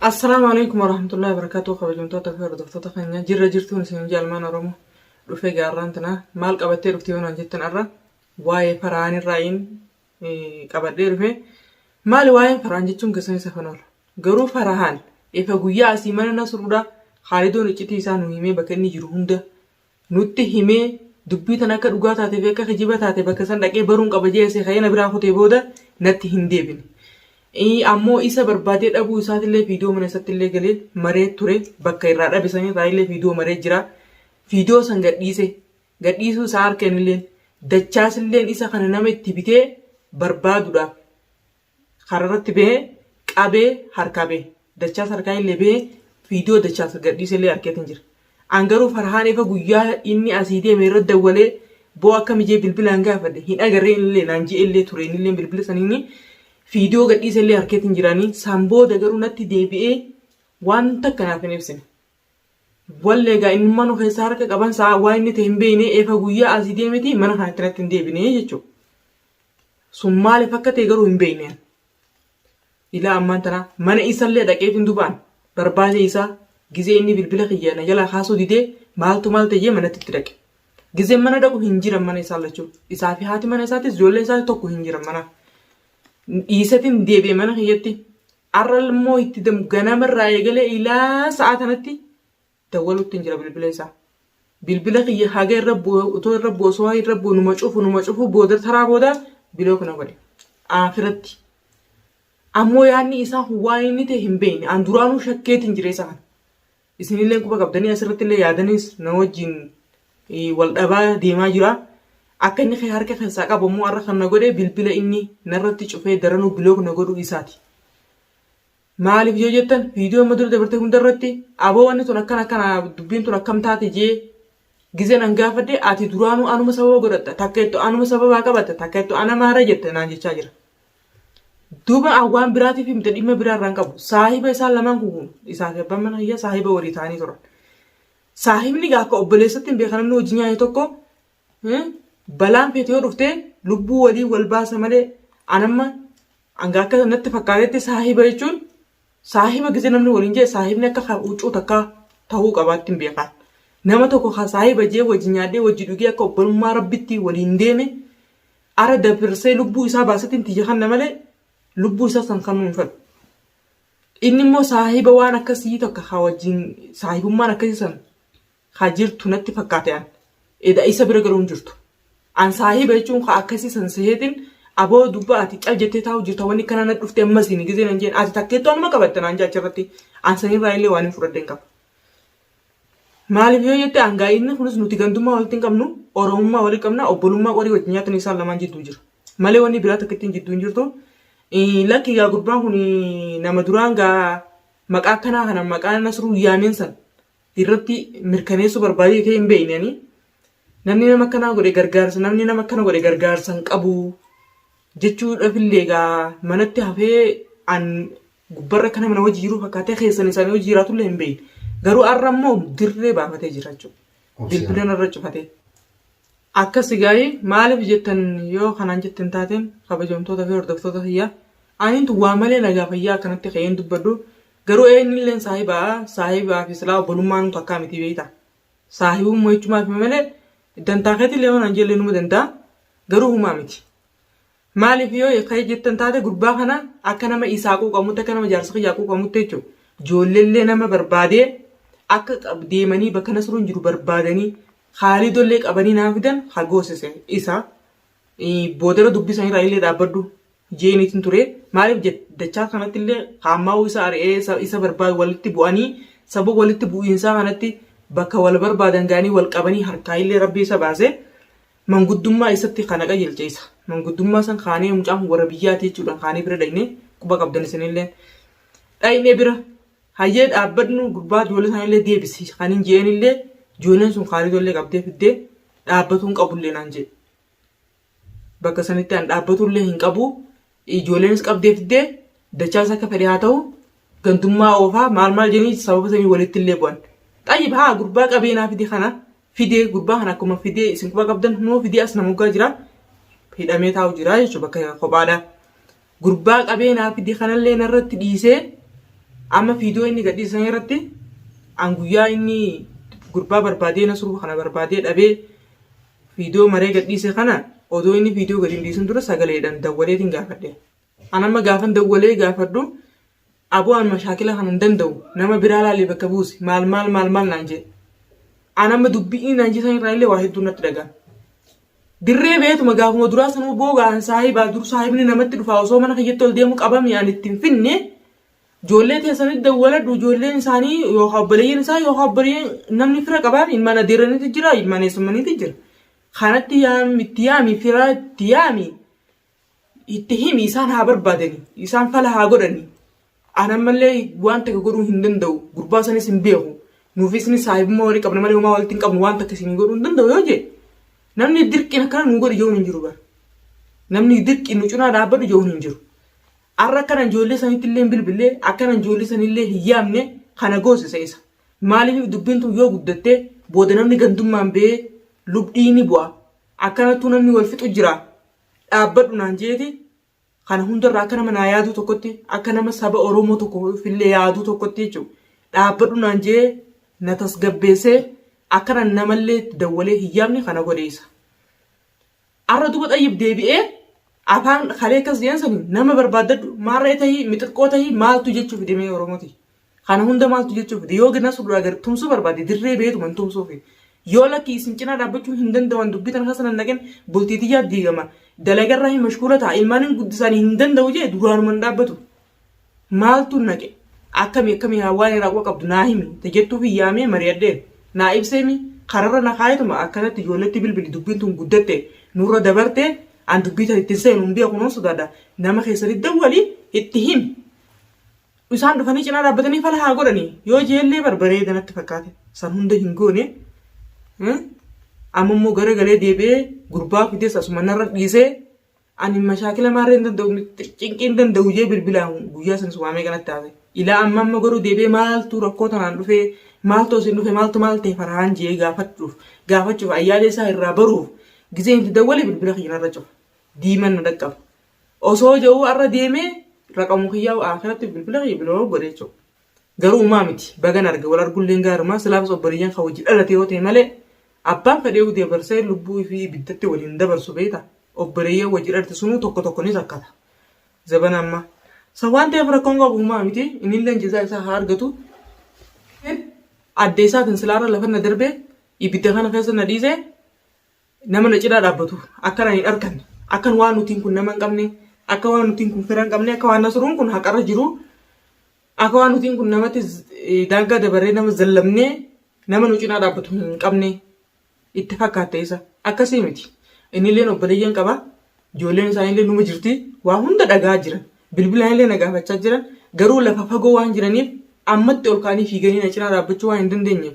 Assalaamu alaikum warahmatullahi wabarakatuh kabajamtoota fi hordoftoota keenya jirra jirtuun isin jaalmaan oromo dhufee gaarraan tanaa maal qabattee dhufte yoo naan jettan arra waa'ee faraan irraa'iin qabadhee dhufe maali waa'een faraan jechuun keessan isa kan oolu garuu farahaan efa guyyaa asii mana nasruudha haalidoon iccitii isaa nu himee bakka inni jiru hunda nutti himee dubbii tana akka dhugaa taatee fi akka kijiba taate bakka san dhaqee baruun qaba jee asii ka'ee na biraa kutee booda natti hin deebine. Ii, Ammoo isa barbaadee dhabuu isaatillee viidiyoo mana isattillee galee maree ture bakka irraa dhabe san irraa illee viidiyoo maree jira. Viidiyoo san gadhiise gadhiisuu isaa harkeen illeen dachaasilleen isa kana nama itti bitee barbaaduudhaaf kararratti bahee qabee harkaa bahe. Dachaas harkaa illee bahee viidiyoo dachaas gadhiise illee arkeetiin jira. An garuu Farhaan efa guyyaa inni asii deeme irra dawwalee boo akka mijee bilbilaan gaafadhe hin agarree illee naan ji'e illee ture inni illee bilbila saniini viidiyoo gadhiise illee arkeetiin jiraanii san booda garuu natti deebi'ee waan takka naaf hin ibsine. Wallee egaa inni mana keessaa harka qaban sa'a waa inni ta'e hin beekne efa guyyaa asii deemeti mana kanatti natti hin deebine jechuudha. sun maaliif akka ta'e garuu hin beekne ani. Ilaa ammaan tana mana isallee dhaqeef hin dubaan barbaadee isaa gizee inni bilbila kiyya na jalaa kaasuu didee maaltu maal ta'ee manatti itti dhaqe. Gizee mana dhaqu hin jiran mana isaa lachuu isaa fi haati mana isaatis ijoollee isaa tokko hin jiran mana. Dhiisetiin deebi'e mana kiyyatti har'a immoo itti dam- ganamarraa eegalee ilaa sa'a kanatti dawwaluttin jira bilbila isaa bilbila kiyya haga irra bu'e utoo irra bu'e osoo haga irra bu'e numa cufu numa cufu booda taraa booda bilook na godhe aakiratti ammoo yaanni isaa kun waan inni ta'e hin beekne an duraanuu shakkeetiin jira isa kana isinillee quba qabdanii asirratti illee yaadanis na wajjin eh, wal dhabaa deemaa jira akka inni kee harka keessaa qabu ammoo har'a kan na godhe bilbila inni narratti cufee daranuu bilook na godhuu isaati Maaliif yoo jettan viidiyoo amma dura dabartee hunda irratti aboo wanni tun akkana akkana dubbiin tun akkam taate jee gizeen an gaafadhe ati duraanuu anuma sababa godhatta takka ittu anuma sababaa qabatta takka ittu ana maara jette naan jechaa jira. Duuba an waan biraatiif himte dhimma biraa irraan qabu saahiba isaan lamaan kun isaa fi abbaan mana hiyyaa saahiba walii ta'anii turan. Saahibni gaa akka obboleessatti hin beekan namni hojii nyaate tokko balaan feetu yoo dhufte lubbuu waliin wal baasa malee an amma hanga akka natti fakkaatetti saahiba jechuun saahiba gise namni waliin jee saahibni akka kan huccuu takkaa ta'uu qabaatti hin beekaa. Nama tokko kan saahiba jee wajji nyaadhee wajji dhugee akka obbolummaa rabbitti waliin deeme ara dabarsee lubbuu isaa baasatiin tiyya kanna malee lubbuu isaa san kan hin fedhu. Inni immoo saahiba waan akkasii tokko kan wajjin saahibummaan akkasii san Kaa jirtu natti fakkaate an. Eda isa bira garuu hin jirtu. An saahiba jechuun kaa akkasii san seheetin aboo dubba ati cal jettee taa'u jirta wanni kana na dhufte ammas hin gizee nan jeen ati takkeettu anuma qabatte naan jaacha irratti an san irraa illee waan hin fudhadhe hin qabu. Maaliif yoo jette an gaa inni kunis nuti gandummaa walitti hin qabnu oromummaa walitti qabna obbolummaa qorii wajjin nyaatan isaan lamaan jidduu jira. Malee wanni biraa takkittiin jidduu hin jirtu. Lakki gaa gurbaan kun nama duraan gaa maqaa akkanaa kana maqaa nasruu yaameen san irratti mirkaneessuu barbaadee ta'e hin beekne ani namni nama akkanaa godhe gargaarsa namni nama akkana godhe gargaarsa hin qabu jechuudhaaf illee egaa manatti hafee an gubbarra akka nama na wajji jiru fakkaatee keessan isaanii wajji jiraatu illee hin beekne garuu har'a immoo dirree baafatee jira jechuudha. Bilbilan irra cufatee. Akkas gaa'ee maaliif jettan yoo kanaan jettan taateen kabajamtoota fi hordoftoota fayyaa aniintu waa malee nagaa fayyaa akkanatti ka'een dubbadhu Garuu eenyulleen saahibaa saahibaa fi silaa obbolummaan takkaa miti beektaa. Saahibummaa jechumaa fi malee dantaa keetillee waan anjellee numa danda'a garuu humaa miti. Maaliif yoo ka'ee jettan taate gurbaa kana akka nama isaa quuqamutti akka nama jaarsa kiyyaa quuqamutti jechuudha. Ijoolleellee nama barbaadee akka qab- deemanii bakka nasruun jiru barbaadanii haalidollee qabanii naa fidan hagoosise isa. Eh, Boodara dubbii isaanii irraa illee dhaabbadhu. jeeniitin ture. Maaliif jette? Dachaa kanatti illee haammaa'uu isa ari'ee isa barbaadu walitti bu'anii sababa walitti bu'iinsaa kanatti bakka wal barbaadan ga'anii wal qabanii harkaa illee rabbi isa baase manguddummaa isatti kana qajeelche isa. Manguddummaa san kaanee mucaan warra biyyaati jechuudhaan kaanee bira dhaqne quba qabdan isinillee. Dhaqne bira hayyee dhaabbadnu gurbaa ijoollee sanillee deebisi kan hin je'een illee ijoolleen sun kaanitollee qabdee fiddee dhaabbatuun qabullee naan jedhe. Bakka sanitti an dhaabbatullee hin qabu. Ijoolleenis qabdee fiddee dachaas akka fedhe haa ta'u gandummaa oofaa maal maal jedhanii sababa sanii walitti illee bu'an. Xayyib haa gurbaa qabeenaa fide kana fidee gurbaa kana akkuma fidee isin quba qabdan hunoo fidee as namoggaa jira hidhamee taa'u jira jechuudha bakka kophaadha. Gurbaa qabee naa fide kanallee narratti dhiisee amma fiidoo inni gadhiisan irratti an guyyaa inni gurbaa barbaadee nasruu kana barbaadee dhabee fiidoo maree gadhiise kana odoo inni fiidoo gadi hin dhiisin dura sagaleedhaan dawwaleetiin gaafadhe. An amma gaafan dawwalee gaafadhu Aboo an mashaakila kana hin danda'u nama biraa laalee bakka buusi maal maal maal maal naan jee an amma dubbii inni naan jesan irraa illee waa hedduu natti dhagaan dirree beetuma gaafuma duraa sanuu boogaan saahibaa dur saahibni namatti dhufaa osoo mana kiyyatti ol deemu qabame an itti hin finne ijoollee teessanitti dawwaladhu ijoolleen isaanii yookaan obboleeyyan isaa yookaan obboleeyyan namni fira qabaan ilmaan adeeranitti jira ilmaan eessummanitti jira kanatti yaam itti yaami fira itti yaami Itti himi isaan haa barbaadani isaan fala haa godhani an ammallee waan takka godhuu hin danda'u gurbaa sanis hin beeku nuufi isinis saahibummaa walii qabna malee homaa walitti hin qabnu waan takka isinii godhuu hin danda'u yoo jee namni dirqiin akkana nuu godhi jechuun hin jiru bara namni dirqiin nu cinaa dhaabbadhu jechuun hin jiru arra akkana ijoollee sanitti illee hin bilbillee akkana ijoollee sanillee hin yaamne kana goosisa isa maaliif dubbiin tun yoo guddattee booda namni gandummaan ba'ee lubdhiini bu'a akkanattuu namni wal fixu jira dhaabbadhu naan jeeti kana hundarraa akka nama naa yaaduu tokkotti akka nama saba Oromoo tokkoof illee yaaduu tokkotti jechuudha. Dhaabbadhu naan jee na tasgabbeessee akkana namallee itti dawwalee hin yaamne kana godheessa. Arra duba xayyib deebi'ee afaan kalee akkas jeen sani nama barbaaddadhu maarree tahii mixirqoo tahii maaltu jechuu fidemee Oromooti. Kana hunda maaltu jechuu fide yoo gina sudura gar tumsuu barbaade dirree beetuma hin tumsuufi. Yoo lakki isin cinaa dhaabbachuu hin danda'an dubbii tana keessa nan naqin bultii tiyyaa diigama dalagarraa hin mashkuula ta'a ilmaanin guddisaanii hin danda'u jee duraanuma hin dhaabbatu. Maaltu naqe akkami akkami haa waan irraa quba qabdu naa himi ta jettuufi yaamee mari'adheen naa ibseemi kararra na kaayetuma akkanatti ijoolletti bilbili dubbiin tun guddatte nurra dabarte an dubbii tan ittiin seenu hin beeku nan sodaadha nama keessanitti dawwali itti himi. Isaan dhufanii cinaa dhaabbatanii fala haa godhanii yoo jeellee bar bareeda natti fakkaate san hunda hin goone amma immoo gara galee deebi'ee gurbaa fidees asuma narra dhiisee ani mashaakila maarree hin danda'u cinqii hin danda'u jee bilbilaan guyyaa sanis waamee kanatti haase ilaa amma amma garuu deebi'ee maaltu rakkoo tanaan dhufee maaltu isin dhufe maaltu maal ta'e farhaan jee gaafachuuf gaafachuuf ayyaalee isaa irraa baruuf gisee itti dawwalee bilbila kiyya narra cufa diiman na dhaqqaba. Osoo ja'uu arra deemee raqamu kiyyaa aakiratti bilbila kiyya biloo godhe jechuudha. Garuu umaa miti bagan arge wal argulleen gaarumaa silaafis obboleeyyan kan wajji dhalate yoo ta'e malee abbaan fedheewu dabarsee lubbuu ifii ibiddatti waliin dabarsu beeyta obboleeyyan wajji dhalate sunuu tokko tokko ni rakkata. Zabana ammaa. Sa waan ta'eef rakkoon qabu umaa miti inilleen jazaa isaa haa argatu. Adda isaatiin silaarra lafanna darbee ibidda kana keessa na dhiisee Nama na cinaa dhaabbatu akka na hin arkanne, akkan waan nutiin kun nama hin qabne, akka waan nutiin kun fira hin qabne, akka waan Nasruun kun haqarra jiru, akka waan nutiin kun namatti daangaa dabarree nama zallamnee nama nu cinaa dhaabbatu hin qabne itti fakkaatte isa. Akkasii miti. Innilleen obboleeyyan qaba. Ijoolleen isaaniillee numa jirti. Waa hunda dhagaa jiran. Bilbilaanillee na gaafachaa jiran. Garuu lafa fagoo waan jiraniif ammatti ol kaanii fiiganii na cinaa dhaabbachuu waan hin dandeenyeef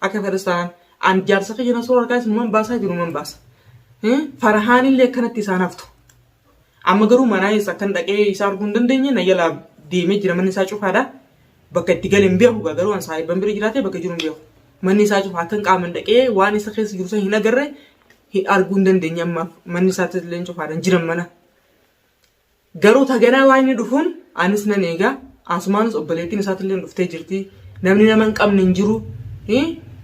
Akka fedhas ta'an. Ani jaarsa kiyya na soorarkaa isinuman baasaa jiruman baasa. Farahaan illee akkanatti isaan haftu. Amma garuu manaa eessa akkan dhaqee isaa arguu hin dandeenye na jalaa deemee jira manni isaa cufaadha. Bakka itti gale hin beeku gaa garuu an saahibban bira jiraatee bakka jiru hin beeku. Manni isaa cufa akkan qaaman dhaqee waan isa keessa jiru sana hin agarre arguu hin dandeenye ammaaf manni isaatti illee cufaadha hin jiran mana. Garuu ta ganaa waan inni dhufuun anis nan eega. Asumaanis obboleettiin isaatillee dhuftee jirti. Namni nama hin qabne hin jiru.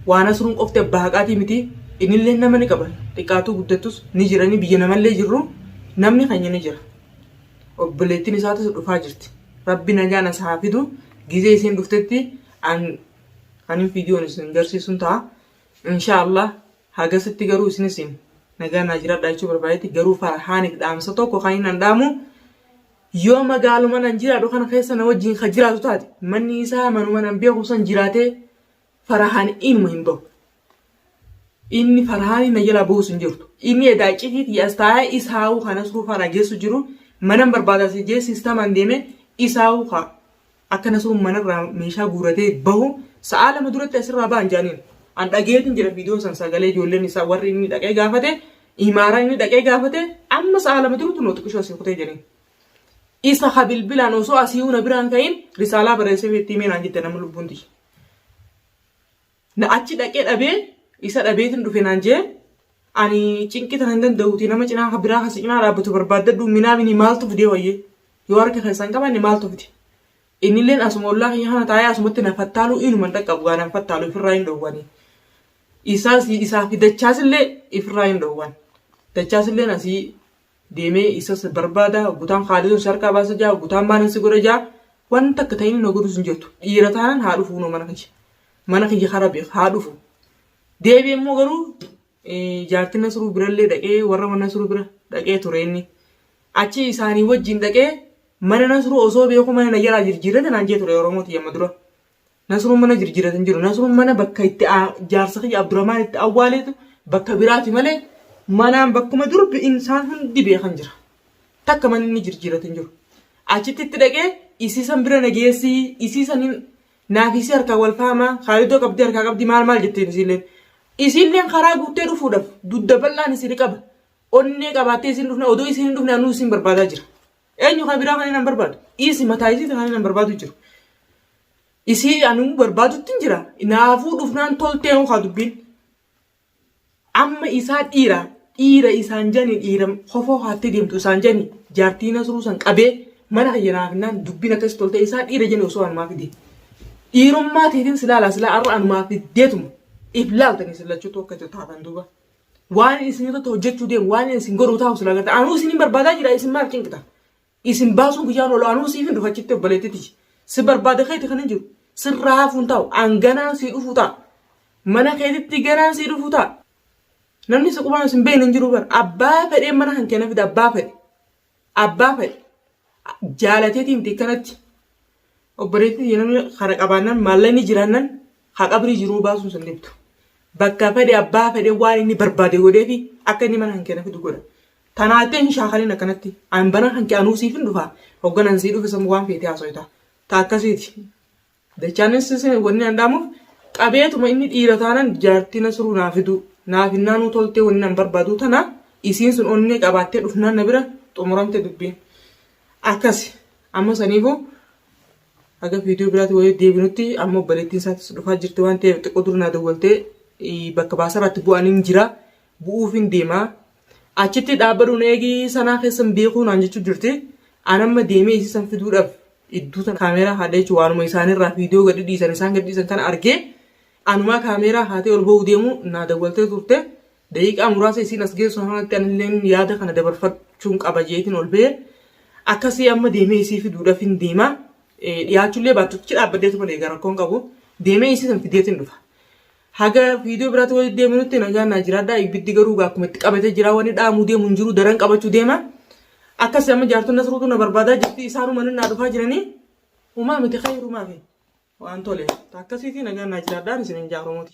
Waa Nasruun qofti abbaa haqaatii miti. Innillee nama ni qaba. Xiqqaatuu guddattus ni jirani biyya namallee jirru namni keenya ni jira. Obboleettiin isaatis dhufaa jirti. Rabbi nagaan as haa fidu. Gizee isiin dhuftetti an kanin viidiyoon isin garsiisuun ta'a. Inshaallah Hagasitti garuu isinisiin nagaa naa jiraadhaa jechuu barbaadetti garuu Farhaaniif dhaamsa tokko kan hin andhaamu yoo magaaluma nan jiraadhu kana keessa na wajjin ka jiraatu taate manni isaa manuma nan beeku san jiraatee Farhaan inuma hin bahu. Inni Farhaanii na jalaa bahuus hin jirtu. Inni edaa iccitii tiyyaas taa'ee isaawuu kanas ruufaa na geessu jiru manan barbaada si jee sistamaan deemee isaawuu kaa Akka Nasruun manarraa meeshaa guuratee bahu sa'aa lama duratti asirraa ba'an jedhaniin. An dhageetiin jira viidiyoo san sagalee ijoolleen isaa warri inni dhaqee gaafate imaaraa inni dhaqee gaafate amma sa'aa lama durutu nootiqishoo asii kutee jedhaniin. Isa ha bilbilaan osoo asii na biraan ka'in risaalaa barreessee itti himee naan jette nama lubbuun tiyya. Na achi dhaqee dhabee isa dhabeetin dhufe naan jee ani cinqii tana hin danda'uuti nama cinaa ka biraa ka si cinaa dhaabbatu barbaaddadhu minaamini maaltu fidee wayyee yoo harka keessaa hin qabaanne maaltu fide innilleen asuma ollaa kiyya kana taa'ee asumatti na fattaaluu inuma hin dhaqqabu gaa nan fattaalu ifirraa hin dhowwani isaas isaa fi dachaasillee ifirraa hin dhowwan dachaasilleen asii deemee isas barbaada gutaan kaalisoon si harkaa baasa jaa gutaan maalan si godha jaa wanta akka ta'in na godhus hin jirtu dhiira taanan haa dhufu kunoo mana kiyya mana kiyya kara beek haa dhufu deebi immoo garuu jaartiin nasruu birallee dhaqee warra mana nasruu bira dhaqee ture inni achi isaanii wajjin dhaqee mana nasruu osoo beeku mana na jalaa jirjiirrate naan jee ture oromoo tiyya amma dura Nasruun mana jirjiratu hin jiru. Nasruun mana bakka itti jaarsa kiyya Abdurrahmaan itti awwaaleetu bakka biraati malee manaan bakkuma dur bi'insaan hundi beekan jira. Takka mana inni jirjiratu hin jiru. Achitti itti dhaqee isiisan bira na geessii isiisaniin naafiisii harkaa wal faamaa kaalidoo qabdii harkaa qabdii maal maal jetteen isiilleen. Isiilleen karaa guuttee dhufuudhaaf dudda bal'aan isin qaba. Onnee qabaattee isin dhufna odoo isin hin dhufne anuu isin barbaadaa jira. Eenyu kan biraa kan inni hin barbaadu? Dhiisi mataa isii kan inni hin barbaadu jiru. Isii anuu barbaadutti hin jira. Naafuu dhufnaan toltee hoo haa dubbiin. Amma isaa dhiira dhiira isaan jani dhiira kofoo haattee deemtu isaan jani jaartii nasruu san qabee mana kiyya naaf hinnaan dubbiin akkas toltee isaa dhiira jani osoo anumaa fidee. Dhiirummaa teetiin silaalaa silaa arra anumaa fiddeetuma. If laaltanii sillachuutu akka taatan duuba. Waan isin irratti hojjechuu deemu, waan isin godhu taa'u sila gata. Anuu isin hin barbaadaa jira, isin maaf cinqita? Isin baasuun guyyaan oolu, anuu siif hin dhufa jettee obboleettiti. Si barbaada keeti kan hin jiru. Sirraa hafuun taa'u, an ganaan sii dhufuu ta'a. Mana keetitti ganaan sii dhufuu ta'a. Namni si qubaan isin beekne hin jiru bara. Abbaa fedhee mana kan keenya fida, abbaa fedhe. Abbaa fedhe jaalateetii miti akkanatti obboleettii namni kana qabaannan maallaqni jiraannan haa qabrii jiruu baasuun sun dhibdu. Bakka fedhe abbaa fedhe waan inni barbaade godheefi akka inni mana hankeena fidu godha. Tanaattee hin shaakaliin akkanatti an bana hanke anuu siifin dhufa hogganan sii dhufe san waan feetee haasoyta. Ta akkasiiti. Dachaanis wanni an dhaamuuf qabeetuma inni dhiira taanan jaartii nasruu naa fiduu naaf hinnaanuu toltee wanni an barbaaduu tana isiin sun onnee qabaattee dhufnaan na bira xumuramte dubbiin akkasi amma saniifu haga viidiyoo biraatti wayii deebinutti amma obboleettiin isaatis dhufaa jirti waan ta'eef xiqqoo dura naa dawwaltee bakka baasarratti bu'aniin jira bu'uufin deema. Achitti dhaabbadhu na eegi sanaa keessan beekuu naan jechuu jirti. An amma deemee isii san fiduudhaaf idduu tana kaameeraa haadhee jechuun waanuma isaanirraa viidiyoo gadi dhiisan isaan gadi dhiisan kana argee anumaa kaameeraa haatee ol ba'uu deemu naa dawwaltee turte. Daqiiqaa muraasa isiin as geessu kanatti anilleen yaada kana dabarfachuun qaba jeetiin ol ba'e. Akkasii amma deemee isii fiduudhaaf hin deema. Dhiyaachullee baattuchi dhaabbaddeetu malee egaa rakkoon qabu. Deemee isii san fideetiin dhufa. Haga viidiyoo biraatti walitti deebinutti nagaan naa jiraadhaa. Ibiddi garuu gaa akkuma itti qabatee jira wanni dhaamuu deemu hin jiru daran qabachuu deema. Akkasi amma jaartonni asruutu na barbaadaa jirti isaanuma naa dhufaa jiranii. Umaa miti kayrumaa fi waan tole. Akkasiitii nagaan naa jiraadhaa isin hin jaarumuuti.